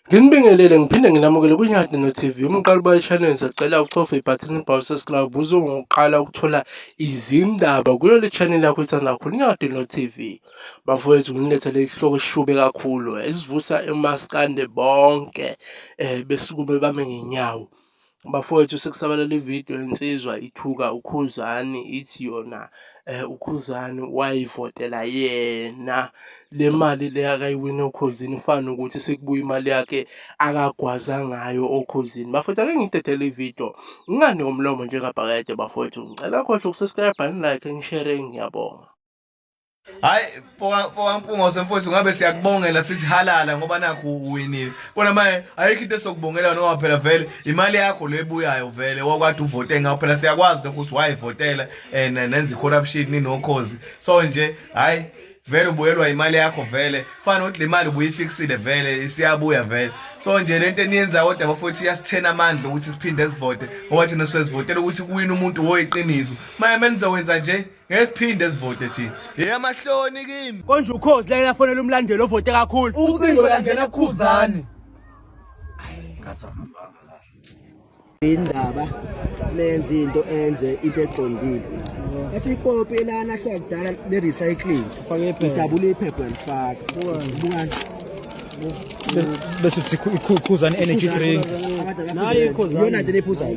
Nginibingelele ngiphinde nginamukele kwiNyati no-TV umqaliba channel sacela uchofe ibhathini ibhawu sesclub uzongokuqala ukuthola izindaba kuyo le channel yakho ithanda kakhulu iNyati no-TV bafowethu nginilethele isihloko esishube kakhulu esivusa emaskande bonke um besukume bame ngenyawo bafowethu sekusabalala ividiyo insizwa ithuka ukhuzani ithi yona um ukhuzani wayivotela yena le mali le akayiwini okhozini fana ukuthi sekubuya imali yakhe akagwaza ngayo okhozini bafowethu ake ngidedele ividiyo ngingani ngomlomo njengabhakede bafowethu ngicela khohle ukusescribe like ngishere ngiyabonga hayi fokampunga usemfowethu ngabe siyakubongela sithi halala ngoba nakho uwinile kona manje ayikho into esokubongela noma phela vele imali yakho le ebuyayo vele wakwade uvote ngawo phela siyakwazi lokho ukuthi wayivotela and eh, nenza i-corruption ninokhozi so nje hayi vele ubuyelwa imali yakho vele fana ukuthi le mali ubuyifiksile vele isiyabuya vele so nje le nto eniyenzayo kodwa bafowethu iyasithena amandla ukuthi siphinde sivote ngoba thina siyazivotela ukuthi kuwina umuntu woyiqiniso maye menizokwenza nje ngesiphinde sivote thina eyamahloni kimi konje ukhozi lake lafonela umlandeli ovote kakhulu ucingo yangena kukhuzane indaba nenze into enze into eqondile athi ikopi elana hla kudala le recycling udabula iphepha lifaka bukani bese sikhuzana energy drink nayo ikhuzana yona nto lephuzayo